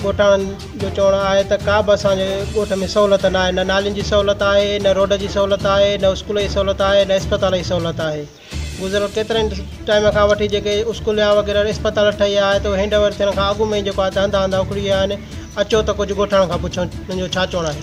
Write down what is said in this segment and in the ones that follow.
ڳوٺاڻن جو چوڻ آهي ته ڪا به اسان جي ڳوٺ ۾ سهولت ناهي نه نالين جي سهولت آهي نه روڊ جي سهولت آهي نه اسڪول جي سهولت آهي نه اسپتال جي سهولت آهي گذريل ڪيترن ٽائيم کان وٺي جيڪي اسڪول يا وغيره اسپتال ٺهي آهي ته هينڊ اوور ٿيڻ کان اڳ ۾ ئي جيڪو آهي ته هنڌا هنڌا اکڙي ويا آهن اچو ته ڪجهه ڳوٺاڻن کان پڇو انهن جو ڇا چوڻ آهي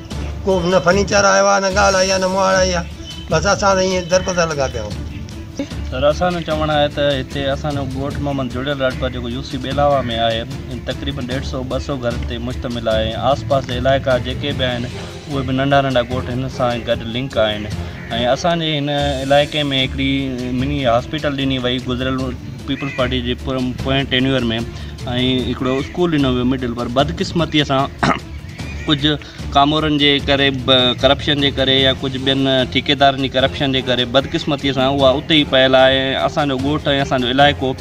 ڪو به نه فرنيچر آيو آهي، نه ڳالهه آئي آهي، نه مهاڙ آئي آهي، بس اسان ته ائين دربدر لڳا پيا آهيون. سر اسان جو چوڻ آهي ته هتي اسان جو ڳوٺ محمد جڙيل راڄپر جيڪو يو سي ٻيلاوا ۾ آهي تقريبن ڏيڍ سؤ ٻه سؤ گهر تي مشتمل آهي ۽ آس پاس جا علائقا جيڪي به آهن اهي به ننڍا ننڍا ڳوٺ هن سان گڏ لنڪ آهن ۽ اسان جي هن علائقي ۾ هڪڙي مني هاسپيٽل ڏني وئي گذريل پيپلز پارٽي جي پوئين ٽينيور ۾ ۽ هڪڙو اسڪول ڏنو ويو مڊل پر بدقسمتي سان ڪجهه ڪامورن جي ڪري ڪرپشن جي ڪري يا ڪجهه ٻين ٺيڪيدارن جي ڪرپشن جي ڪري بدقسمتيء سان اها اتي ئي پيل آهي ۽ اسان جو ڳوٺ ۽ اسان جو علائقو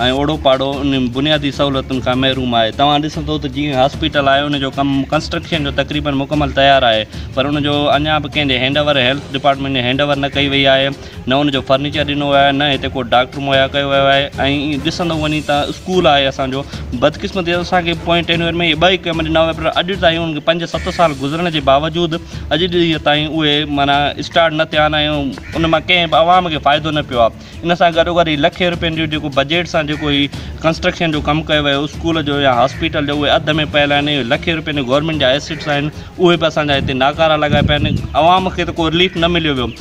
۽ اوڙو پاڙو انهن بنيادي سهولتن کان محروم آهي توهان ڏسندو ته جيئن هاسپيٽل آهي ان جو ڪم ڪنسٽرڪشن جو تقريبن مڪمل تيار آهي پر ان جو اڃا به ڪنهن جي هينڊ اوور هيلٿ ڊپارٽمينٽ جي هينڊ اوور نه ڪئي وئي آهي نه ان جو فرنيچر ڏنو ويو آهي نه هتي ڪو ڊاڪٽر مهيا ڪيو ويو آهي ۽ ڏسندو وڃي ته اسڪول آهي اسان جو بدقسمتي سان اسان کي پوئين ٽين ورهين ۾ اهي ٻه ئي ڪئمپ ڏنا ويا پر اڄ تائين ان کي پنج ست سال گذرڻ جي باوجود اڄ ڏينهن تائين اهي معنيٰ اسٽارٽ نه ٿيا آهن ۽ ان مان ڪنهن به عوام کي فائدو نه پيو آهي ان سان گڏو گڏ هي لکين روپين جو جيڪو بجيٽ سان جيڪو هي ڪنسٽرڪشن جو ڪم ڪيو ويو اسڪول جو يا هاسپيٽل جو اهي اڌ ۾ پيل آهن اهي لکين روپين گورنمينٽ جا ايسيٽس آهن اهي به اسان جا هتي ناڪارا لڳا پيا آهن عوام کي ته ڪو رليف نه مليو ويو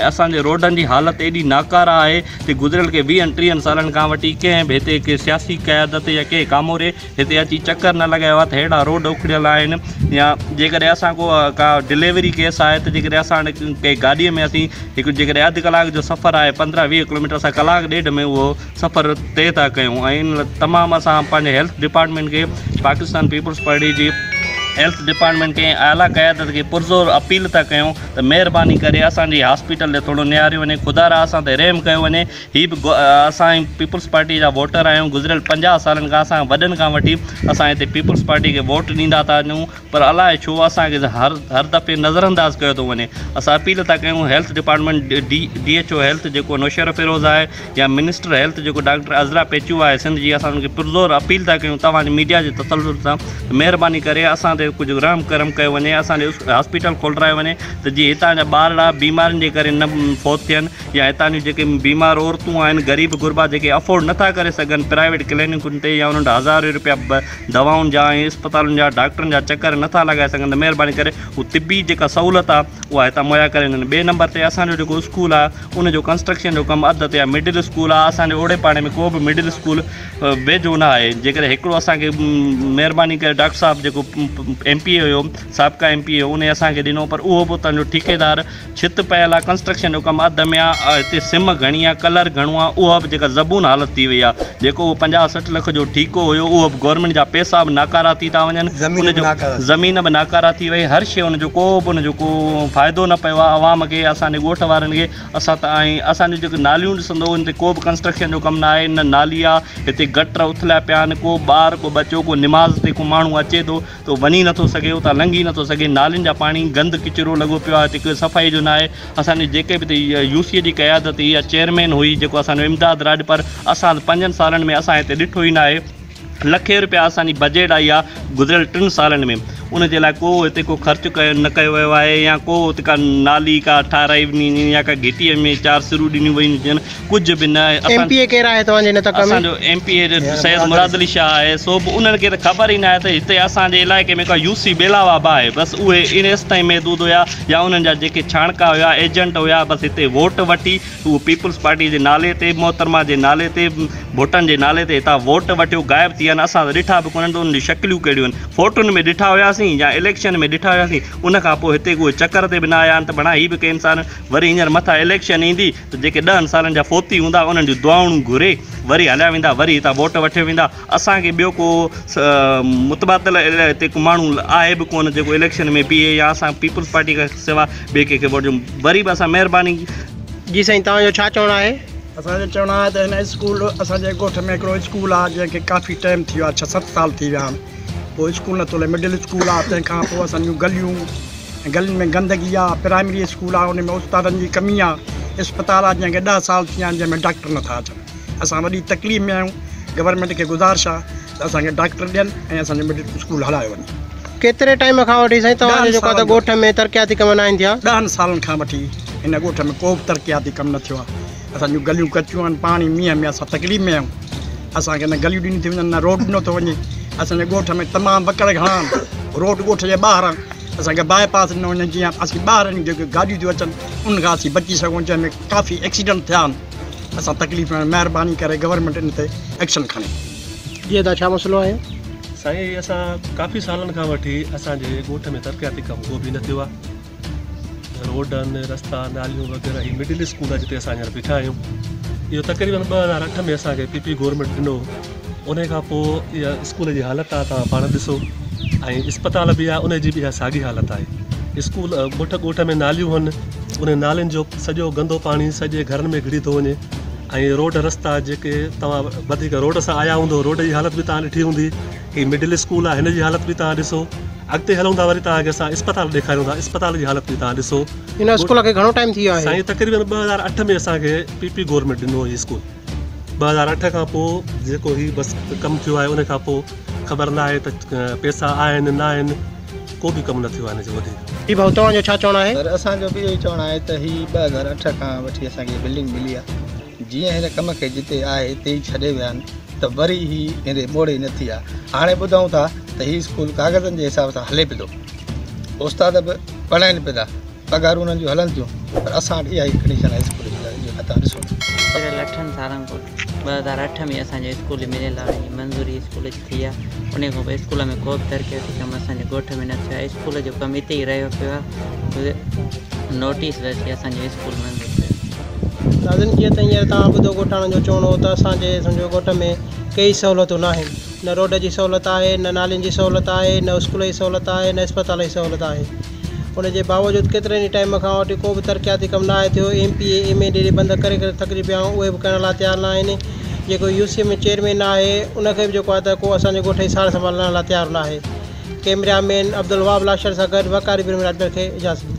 ۽ اسان جي روڊن جي حالت ايڏي ناڪاره آهي ته گذريل ڪي ويهن ٽيهن سالن کان وٺي ڪنهن به هتي ڪي سياسي قيادت يا ڪنهن ڪاموري هتي اچي چڪر نه لڳايو آهي ته ههڙا روڊ اکڙيل آهن يا جيڪڏهن اسان ڪو ڪا ڊليوري ڪيس آهي ته جيڪڏهن اسان ڪنهن گاڏيء ۾ اسين هڪ جيڪڏهن اڌ ڪلاڪ جو سفر آهي پندرهن ويهه ڪلوميٽر اسان ڪلاڪ ڏيڍ ۾ اهو سفر طئي ٿا ڪيون ۽ تمام اسان پنهنجي هيلٿ ڊپارٽمينٽ کي پاڪستان پيپلز پارٽي جي هيلٿ ڊپارٽمينٽ کي ۽ اعليٰ قيادت کي پرزور اپيل ٿا ڪيون ته مهرباني ڪري اسان جي هاسپيٽل ڏي ٿورو نهاريو وڃي خدا را اسان تي رحم ڪيو وڃي هي به اسان پيپلز پارٽي جا ووٽر آهيون گذريل پنجاهه سالن کان اسان وڏن کان وٺي اسان هتي پيپلز پارٽي کي ووٽ ڏيندا ٿا اچون پر الاء ڇو اسان کي هر هر دفعي نظر انداز ڪيو ٿو وڃي اسان اپيل ٿا ڪيون health department D D H O health جيڪو نوشهرو فيروز آهي يا منسٽر هيلٿ جيڪو ڊاڪٽر عذرا پيچو آهي سنڌ جي اسان ان کي پرزور اپيل ٿا ڪيون توهان جي ميڊيا جي تسلسل سان ته مهرباني ڪري اسان تي ڪجهه رحم ڪرم ڪيو وڃي اسان ڏي هاسپيٽل کولرايو وڃي ته جي هتان جا ٻارڙا بيمارين جي ڪري نه فوت ٿين يا هتان جون جيڪي بيمار عورتون آهن غريب غربا جيڪي افورڊ نه ٿا ڪري سگهن پرائيويٽ ڪلينڪن تي يا انهن ڏانهن هزارين روپيا دوائن جا ۽ اسپتالن جا ڊاڪٽرن جا چڪر نٿا لڳائي سگهن ته مهرباني ڪري هو طبي جيڪا سهولت آ اها هتان مهيا ڪري ڏين ٻئي نمبر تي اسان جو جيڪو اسڪول آ ان جو ڪنسٽرڪشن جو ڪم اڌ تي آ مڊل اسڪول آ اسان جي اوڙي پاڙي ۾ ڪو به مڊل اسڪول ويجهو نه آهي جيڪڏهن هڪڙو اسان کي مهرباني ڪري ڊاڪٽر صاحب جيڪو ايم پي اي هيو سابقا ايم پي اي هيو انهي اسان کي ڏنو پر اهو به اتان جو ٺيڪيدار ڇت پيل آ ڪنسٽرڪشن جو ڪم اڌ ۾ آ هتي سم گهڻي آ ڪلر گهڻو آ اها به جيڪا زبون حالت ٿي وئي آ جيڪو اهو پنجاهه سٺ لک جو ٺيڪو هيو اهو به گورنمينٽ جا پيسا به ناڪارا ٿي ٿا وڃن ان جو زمين به ناڪارا ٿي وئي هر شي ان جو ڪو به ان جو ڪو فائدو نه پيو آ عوام کي اسان جي ڳوٺ وارن کي اسان ته آئين اسان جون جيڪو ناليون ڏسندو ان تي ڪو به ڪنسٽرڪشن جو ڪم نه آهي نه نالي آ هتي گٽر اٿليا پيا آهن ڪو ٻار ڪو ٻچو ڪو نماز تي ڪو ماڻهو اچي ٿو تو وڃي نٿو سگهين اتان لنگهي نٿو سگهين نالين جا پاڻي گند ڪچرو لڳو پيو آهي هتي ڪوئي صفائي جو ناهي اسان جي جيڪي به هتي يو سي اي جي قيادت هئي يا چيئرمين هئي جيڪو اسان جو امداد راڄپر اسان پنجن سالن ۾ اسان هتي ڏٺو ئي ناهي لکين رپيا اسان جي بجيٽ آئي آهي گذريل ٽن سالن ۾ ان جي لاء ڪو هتي ڪو خرچ ڪيو نه ڪيو ويو آهي يا ڪو هتي ڪا نالي ڪا ٺاهرائي وڃي يا ڪا گهٽي ۾ چار سرون ڏنيون ويون هجن ڪجهه به نه آهي. ايم پي اي ڪير آهي توهان جي ان تڪ ۾؟ اسان جو M P A Syed Murad Ali Shah آهي سو به انهن کي ته خبر ئي نه آهي ته هتي اسان جي علائقي ۾ ڪا يو سي ٻيلاوا به آهي بس اهي ان ايستائين محدود هيا يا انهن جا جيڪي ڇاڻڪا هيا ايجنٽ هيا بس هتي ووٽ وٺي اهو پيپلز پارٽي جي نالي تي محترمه جي نالي تي ڀٽن جي نالي تي هتان ووٽ وٺيو غائب ٿي ويا آهن اسان ته ڏٺا به ڪونهن ته انهن جون شڪليون ڪهڙيون آهن فوٽن ۾ ڏٺا هياسين يا اليڪشن ۾ ڏٺا هياسين ان کان پوء هتي ڪو چڪر تي به نه آيا آهن ته بڻا هي به ڪئين سال وري هينئر مٿان اليڪشن ايندي ته جيڪي ڏهن سالن جا فوتي هوندا انهن جون دعائون گهري وري هليا ويندا وري هتان ووٽ وٺي ويندا اسان کي ٻيو ڪو متبادل هتي ڪو ماڻهو آهي به ڪونه جيڪو اليڪشن ۾ بيهي يا اسان پيپلز پارٽي کان سوا ٻئي ڪنهن کي ووٽ ڏيون وري به اسان مهرباني جي سائين توهان جو ڇا چوڻ آهي. اسان جو چوڻ آهي ته هن اسڪول اسان جي ڳوٺ ۾ هڪڙو اسڪول آهي جنهن کي ڪافي ٽائيم ٿي ويو آهي ڇهه ست سال ٿي ويا آهن ڪو اسڪول نٿو هلي مڊل اسڪول آهي تنهن کان پوء اسان جون گليون ۽ گلين ۾ گندگي آ، پرائمري اسڪول آ ان ۾ استادن جي ڪمي آ، اسپتال آ جنهن کي ڏهه سال ٿي ويا آهن جنهن ۾ ڊاڪٽر نٿا اچن، اسان وڏي تڪليف ۾ آهيون، گورنمينٽ کي گذارش آ ته اسان کي ڊاڪٽر ڏين ۽ اسان جو مڊل اسڪول هلايو وڃي. ڪيتري ٽائيم کان وٺي سائين توهان جي ڏهن جيڪو سالن ڳوٺ ۾ ترقياتي ڪم ناهن ٿيا؟ ڏهن سالن کان وٺي هن ڳوٺ ۾ ڪو به ترقياتي ڪم نه ٿيو آ. اسان جون گليون ڪچيون آهن پاڻي مينهن ۾ اسان تڪليف ۾ آهيون اسان کي نه گليون ڏنيون ٿي وڃن نه روڊ ڏنو ٿو وڃي اسان جي ڳوٺ ۾ تمام وڪڙ گهڻا آهن روڊ ڳوٺ جي ٻاهران اسان کي باء پاس ڏنو وڃي جيئن اسان ٻاهر جون جيڪي گاڏيون ٿيون اچن ان کان اسان بچي سگهون جنهن ۾ ڪافي ايڪسيڊنٽ ٿيا آهن اسان تڪليف ۾ مهرباني ڪري گورنمينٽ ان تي ايڪشن کڻي جي ادا ڇا مسئلو آهي سائين اسان ڪافي سالن کان وٺي اسان جي ڳوٺ ۾ ترقياتي ڪم ڪو به نه ٿيو آهي روڊ آهن رستا ناليون وغيره هي مڊل اسڪول جتي اسان هينئر بيٺا آهيون اهو تقريبن ٻه هزار اٺ ۾ اسانکي پي پي گورمينٽ ڏنو ان کان پوء اها اسڪول جي حالت آ تان پاڻ ڏسو ۽ اسپتال به آهي ان جي به ساڳي حالت آهي اسڪول ڳوٺ ڳوٺ ۾ ناليون هن ان نالين جو سڄو گندو پاڻي سڄي گهرن ۾ گهڙي ٿو وڃي ۽ روڊ رستا جيڪي توهان وڌيڪ روڊ سان آيا هوندو روڊ جي حالت به تان ڏٺي هوندي هي مڊل اسڪول آهي هن جي حالت به توهان ڏسو اڳتي هلون ٿا وري توهان کي اسان اسپتال ڏيکاريون ٿا اسپتال جي حالت به توهان ڏسو هن اسڪول کي گهڻو ٽائيم ٿي ويو آهي سائين تقريبن ٻه هزار اٺ ۾ اسان کي پي پي گورنمينٽ ڏنو هو هي اسڪول ٻه هزار اٺ کان پوء جيڪو هي بس ڪم ٿيو آهي ان کان پوء خبر نه آهي ته پيسا آهن نه آهن ڪو به ڪم نه ٿيو آهي هن جو وڌيڪ جي ڀائو توهان جو ڇا چوڻ آهي سر اسان جو به اهو ئي چوڻ آهي ته هي ٻه هزار اٺ کان وٺي اسان کي بلڊنگ ملي آهي جيئن هن ڪم کي جتي آهي اتي ئي ڇڏي ويا آهن ته وري هي ايندي ٻوڙي ئي نه ٿي آ. هاڻي ٻڌئون ٿا ته هي اسڪول ڪاغذن جي حساب سان هلي پيو ٿو. استاد به پڙهائين پيدا. پگهارون انهن جون هلن ٿيون پر اسان وٽ اها ئي ڪنڊيشن آهي اسڪول جي ته اهو هتان ڏسو ٿا. پيرل اٺن سالن پوء ٻه هزار اٺ ۾ اسان جو اسڪول مليل آهي. منظوري اسڪول جي. ٿي آ انهي کان پوء اسڪول ۾ ڪوبه ترقياتي ڪم اسان جي ڳوٺ ۾ نه ٿيو آ اسڪول جو ڪم اتي ئي رهيو پيو آ نوٽيس به اچي اسان جو اسڪول بند ٿي ويو ناظرين جيئن ته هينئر توهان ٻڌو ڳوٺاڻن جو چوڻ هو ته اسان جي سمجهو ڳوٺ ۾ ڪيئي سهولتون ناهن نه روڊ جي سهولت آهي نه نالين جي سهولت آهي نه اسڪول جي سهولت آهي نه اسپتال جي سهولت آهي ان جي باوجود ڪيترن ئي ٽائيم کان اٽي ڪو به ترقياتي ڪم ناهي ٿيو، M P A M A D D بند ڪري ڪري ٿڪجي پيا آهيون اهي به ڪرڻ لاء تيار ناهن، جيڪو U C M A chairman ناهي ان کي به جيڪو آهي ته ڪو اسان جي ڳوٺ جي سار سنڀال لهڻ لاء تيار ناهي، ڪيمريا مين عبدالوهاب لاشاري سان گڏ وقاري برهمڻ اٽڪل کي اجازت ڏني.